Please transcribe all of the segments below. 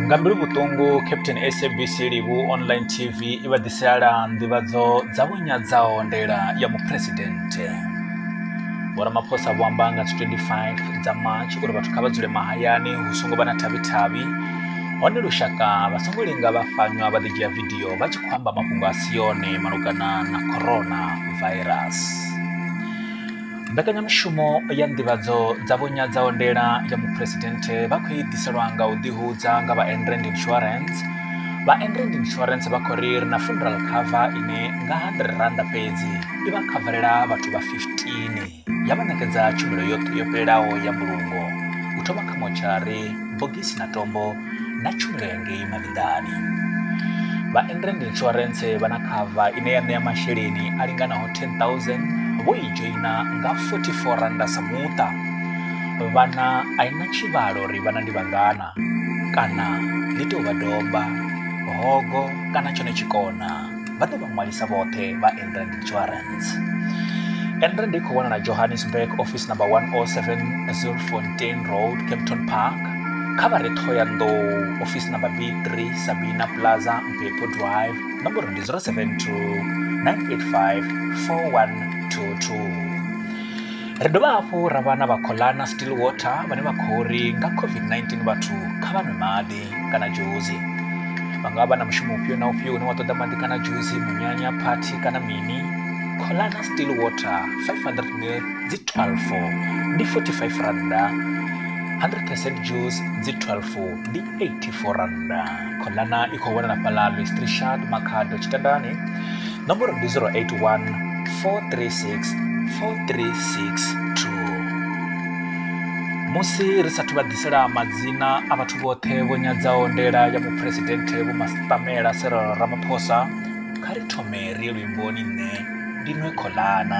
nga mbilu vhuṱungu captain sabc livhu online tv i vha ḓiselala nḓivhadzo dza vhunyadzaho ndela ya muphuresidennde vho ramaphosa vho amba nga 25 dza march uri vhathu kha vha dzule mahayani hu songo vha na thavhi-thavhi hone lushaka vha songo linga vha fanywa vha ḓidzhia vidio vha tshi khou amba mafhungo a si yone malugana na corona virus Mbekanyamushumo ya nḓivhadzo dza vho nyadza ondela ya muphuresidenthe vha khou i ḓiselwa nga u ḓihudza nga vha Enrand Insurance. Vha Enrand Insurance vha khou ri ri na funeral cover ine nga R100 fhedzi i vha khavarela vhathu vha 15 ya vha ṋekedza tshumelo yoṱhe yo fhelelaho ya mbulungo u thoma kha motshari, bogisi na tombo na tshumelo ya ngei mavhiḓani vha endrand insurance vha na khava ine ya ṋea masheleni a linganaho 10000 vho i dzhoina nga 44 randa sa muṱa vhana a i na tshivhalo uri vhana ndi vhangana kana ḽi tou vha domba hogo kana tshone tshikona vha ḓe vha ṅwalisa vhoṱhe vha enrand insurance enrand i khou wanala johannesburg office number 107 zilfontain road capton park kha vha re thoyandou office number b3 sabina plaza mpepo drive nomboro ndi 072 985 4122 ri dovha hafhu ra vha na vha colana still water vhane vha khou ri nga covid-19 vhathu kha vha nwe maḓi kana dzhusi vha nga vha na mushumo ufhio na ufhio une wa ṱoḓa maḓi kana dzhusi munyanya phathi kana mini kholana still water 500 mil dzi 12 ndi 45 randa 100 percent juice dzi 12 ndi 84 randa kholana i khou wanala fhaḽa listrishat makhado tshitandani Nomboro ndi 081 436 4362. Musi ri sathu vha ḓisela madzina a vhathu vhoṱhe vho nyadzaho ndela ya muphuresidenthe Vho Mastamela Cyril Ramaphosa, kha ri thome ri ye luimboni nṋe ndi nwe kholana.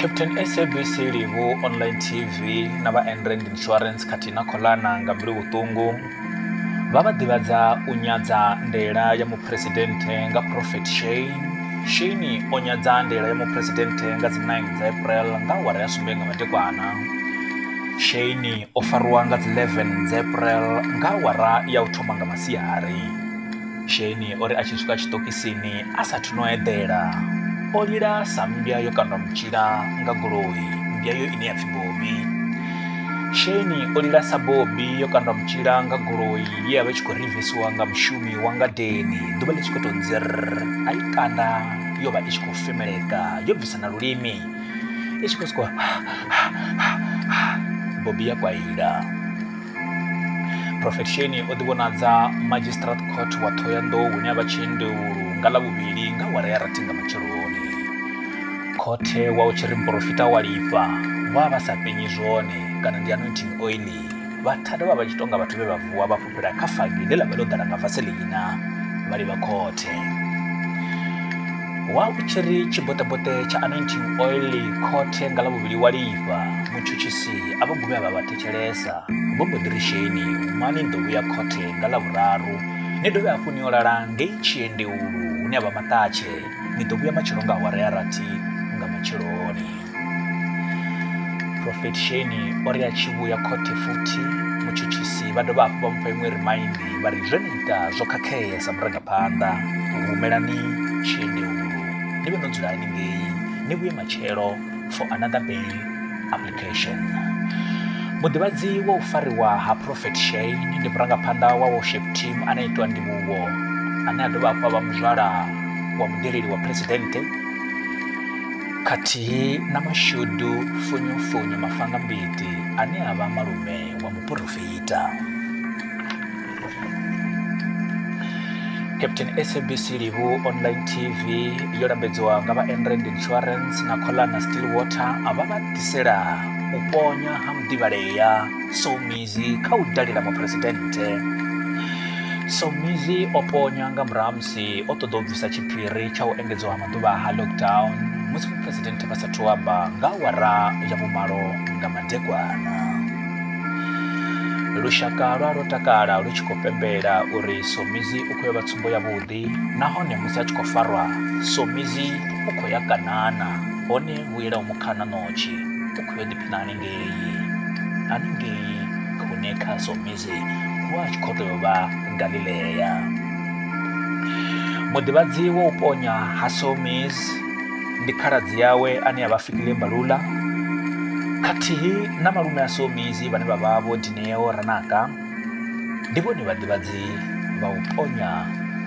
captain sabc livu online tv na vha enrand insurance khathihi na kholana nga mbilu vhuṱungu vha vha ḓivhadza u nyadza ndela ya muphuresidennde nga prophet shane shane o nyadza ndela ya muphuresidennde nga dzi 9 dza april nga awara ya sumbe nga madekwana shane o fariwa nga dzi 11 dza april nga awara ya u thoma nga masiari Sheni o ri a tshi swika tshiṱokisini a sa thu no eḓela o lila sa mmbya yo kandwa mutshila nga goloi mmbya yo ine ya pfhi bobi sheni o lila sa bobi yo kandwa mutshila nga goloi ye ya vha tshi khou rivisiwa nga mushumi wa ngadeni ḓuvha ḽi tshi khou tou nzir a i kanda yo vha i tshi khou femeleka yo bvisa na lulimi i tshi khou sokou bobi ya kwaila prophet sheni o ḓivhonadza magistrate court wa thohoyanḓou hune a vha tshiendeulu nga ḽa vhuvhili nga wara ya rathi nga matsheloni khothe wa u tshi ri muporofita wa lifha vha vha sa penyi zwone kana ndi anointing oili vhathada vha vha tshi tonga vhathu vhe vha vuwa vha fhufhela kha fagi ḽe ḽa vha ḽo ḓala nga vaseleina vha livha khothe wa u tshi ri tshiboṱeboṱe tsha anointing oili khothe nga ḽa vhuvhili wa lifha mutshutshisi a vha guvhe a vha vhathe thetshelesa vho mbo ḓi ri sheni mani ni ḓo vhuya khothe nga ḽa vhuraru ni dovhe hafhu ni yo lala ngei tshiendeulu hune a vha maṱatshe ni ḓo vhuya matshelo nga awara ya rathi nga matsheloni profet sheni o ri a tshi vhuya khothe futhi mutshutshisi vha dovha hafhu vha mupha iṅwe rimaindi vha ri zwe ni ita zwo khakhea sa murangaphanḓa humelani tshiendeulu ni vhe no dzula haningei ni vhuye matshelo for another bail Education. Muḓivhadzi wa u fariwa ha Prophet Shane ndi murangaphanḓa wa worship team ane itwa ndivhuwo ane a dovha hafhu a vha muzwala wa mudeleli wa phuresidennde khathihi na mashudu funyofunyo mafanga mbiti ane a vha malume wa muporofita. captain sabc livu online tv yo lambedziwa nga vha enrand insurance na colana still water a vha vha ḓisela u ponya ha muḓivhalea somizi kha u dalela muphuresidennde somizi o ponya nga murahu musi o ṱoḓa u bvisa tshiphiri tsha u engedziwa ha maḓuvha ha lockdown musi muphuresidennde vha sathu amba nga awara ya vhumalo nga madekwana lushaka lwa lwo takala lu tshi khou pembela uri somizi u khou ya vha tsumbo yavhuḓi nahone musi a tshi khou farwa somizi u khou ya kanana hone vhuela u mukhana notshi u khou yo ḓiphina haningei haningei hune kha somizi hu a tshi khou tou vha galilea muḓivhadzi wa u ponya ha somizi ndi khaladzi yawe ane a vha Fikile Mbalula khathihi na malume a Somizi vhane vha vha vho Dineo Ranaka ndi vhone vhaḓivhadzi vha u ponya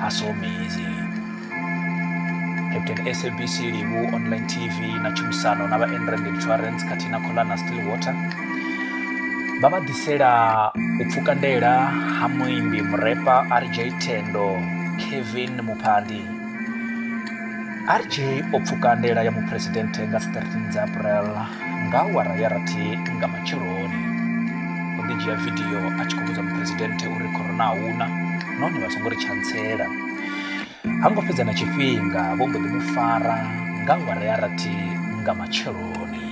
ha Somizi Captain SABC Livu Online TV na tshumisano na vha Enrand Insurance khathihi na Kholana Stillwater vha vha ḓisela u pfuka ndela ha muimbi murepa RJ Tendo Kevin Muphandi RJ o pfuka ndela ya muphuresidenthe nga 13 dza April nga awara ya rathi nga matsheloni. O ḓi dzhia vidio a tshi khou vhudza muphuresidenthe uri corona a huna nahone vha songo ri tshantsela. Ha ngo fhedza na tshifhinga vho mbo ḓi mu fara nga awara ya rathi nga matsheloni.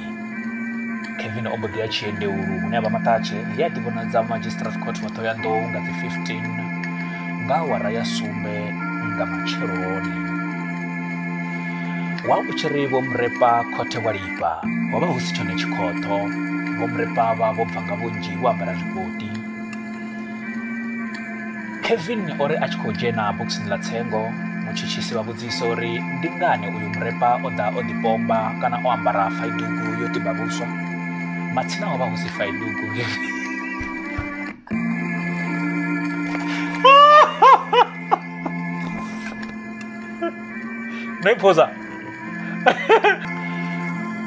kevin o mbo ḓi ya tshiendeulu hune a vha maṱatshe he a ḓivhonadza magistrate court wa ṱhoyandou nga dzi 15 nga awara ya sumbe nga matsheloni wa u tshi ri vho murepa khothe wa lifha ho vha hu si tshone tshikhoṱho vho murepa vha vho bva nga vhunzhi vho ambara zwikoti Kevin o ri a tshi khou dzhena bokisini ḽa tsengo mutshutshisi vha vhudzisa uri ndi ngani uyu murepa o ḓa o ḓipomba kana o ambara faidugu yo tiba vhuswa matsina ho vha hu si faidugu no i phoza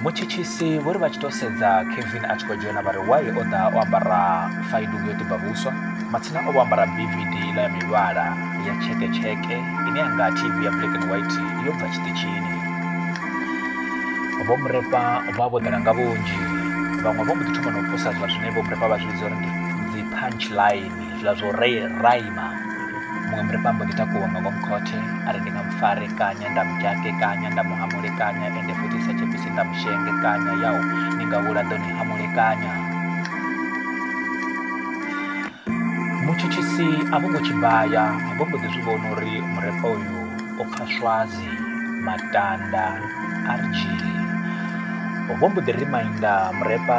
mutshitshisi vho ri vha tshi tou sedza kevin a tshi khou dzhena vha ri waye o ḓa o ambara faidugu yo tiba vhuswa matsina o vho ambara bvd ila ya mivhala ya tsheketsheke ine ya nga tv ya black and white yo bva tshiṱitshini vho murepa vha vho ḓala nga vhunzhi vhaṅwe vho mbo ḓi thoma na u posa zwa zwine vho murepa vha zwi vhidza uri ndi dzi punch line zwiḽa zwo ri raima muṅwe murifha mbo ḓi takuwa nga ngomu khothe a ri ndi nga mufare kanya nda mudzhake kanya nda muhamule kanya ende futhi sa tshepisi nda mushenge kanya yau ni nga vhula ḓo ni hamule kanya mutshutshisi a vho ngo tshibaya a vho mbo ḓi zwi vhona uri murefha uyu o pfha swazi matanda rg vho mbo ḓi reminder murepa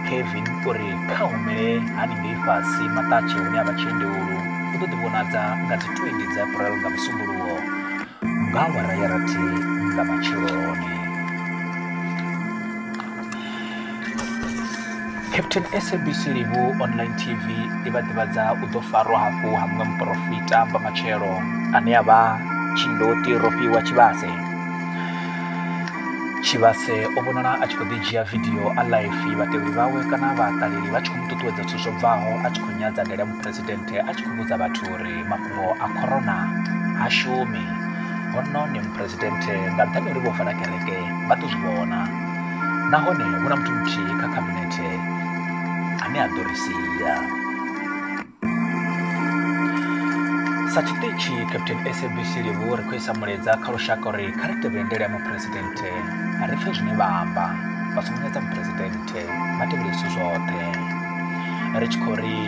kevin uri kha humele haningei fhasi maṱatshe hune a vha tshiendewulu u ḓo ḓivhonadza nga dzi 20 dza april nga musumbuluwo nga awara ya rathi nga matsheloni Captain SABC Livhu Online TV i vha ḓivhadza u ḓo farwa hafhu ha muṅwe muporofita vha matshelo ane a vha tshindoti Rofhiwa Tshivhase Tshivhase o vhonala a tshi khou ḓi dzhia vidio a life vhatevheli vhawe kana vhaṱaleli vha tshi khou mu ṱuṱuwedza zwithu zwo bvaho a tshi khou nyadza ndele muphuresidennde a tshi khou vhudza vhathu uri mafhungo a corona ha shumi hono ni muphuresidennde nga nṱhani uri vho vala kereke vha ḓo zwi vhona nahone hu na muthu muthihi kha khabinethe ane a ḓo ri sia sa tshiṱitshi captain sabc livhu ri khou isa mulaedza kha lushaka uri kha ri tevhele ndele ya muphuresidenthe ri pfe zwine vha amba vha songo nyadza muphuresidenthe vha tevhele zwithu zwoṱhe ri tshi khou ri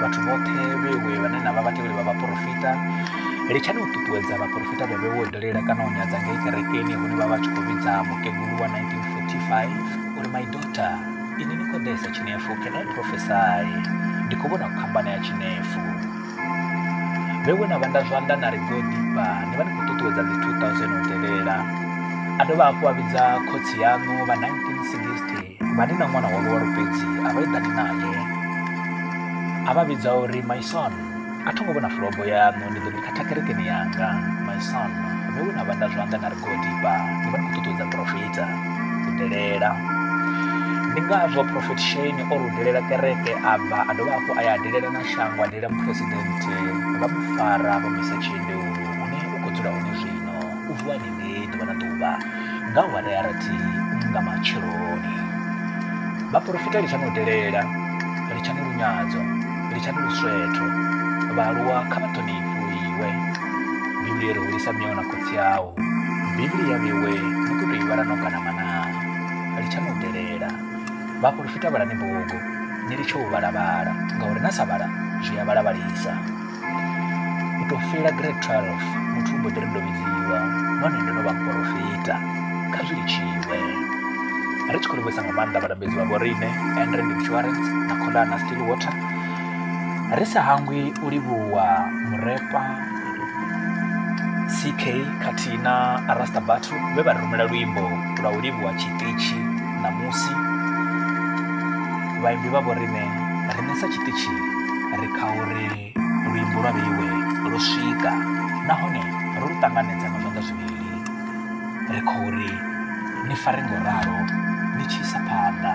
vhathu vhoṱhe vhewe vhane na vha vhatevheli vha vhaporofita litshani u ṱuṱuwedza vhaporofita vhe vhe wo dalela kana u nyadza ngei kerekeni hune vha vha tshi khou vhidza mukegulu wa 1945 uri my daughter ini ni khou ḓesa tshinefu can i prophesy ndi khou vhona khambana ya tshinefu vhe we na vhanda zwanḓa na ri go ḓifha ni vha ni khou ṱuṱuwedza dzi 2000 u tevhela a dovha hafhu a vhidza khotsi yaṋu vha 1960 vha ni na ṅwana wa luwalo fhedzi a vha eḓani naye a vha vhidza uri my son a tho ngo vhona fulobo yaṋu ndi ḓo ni khatha kerekeni yanga my son vhe we na vhanda zwanḓa na ri godipa ni vha ni khou ṱuṱuwedza profita u delela ndi ngazwo profet shane o rudelela kereke a bva a dovha hafhu a ya delela na shango a delela muphuresidennde vha mu fara vha mu isa tshiendeu hune u khou dzula hone zwino U vuwa ni nge ḓuvha na ḓuvha nga awara ya rathi nga matsheloni. Vhaporofita litshani u delela, litshani lunyadzo, litshani luswetho. Vhaaluwa kha vha ṱhonifhiwe. Bivhili yo ri hulisa miau na khotsi au. Bivhili ya vhewe ni khou tou i vhala no gana manaa. Litshani u delela. Vhaporofita vhalani bugu ni litshe u vhala-vhala ngauri na sa vhala zwi a vhala-vhalisa. U tou fhela grade 12 muthu u mbo ḓi ri ndo vhidziwa nahone ndo no vha muporofita kha zwi litshiwe ri tshi khou livhuisa nga maanḓa vhalambedzi vha vhoriṋe andrend insurance na kholana still water ri sa hangwi u livhuwa murepa ck khathihi na arasta battle vhe vha ri rumela luimbo lwa u livhuwa tshiṱitshi ṋamusi vhaimbi vha vhoriṋe ri nesa tshiṱitshi ri kha uri luimbo lwa vheiwe lwo swika nahone ro lu ṱanganedza nga zwanḓa zwivhili ri khou ri ni fare ngo ralo ni tshi isa phanḓa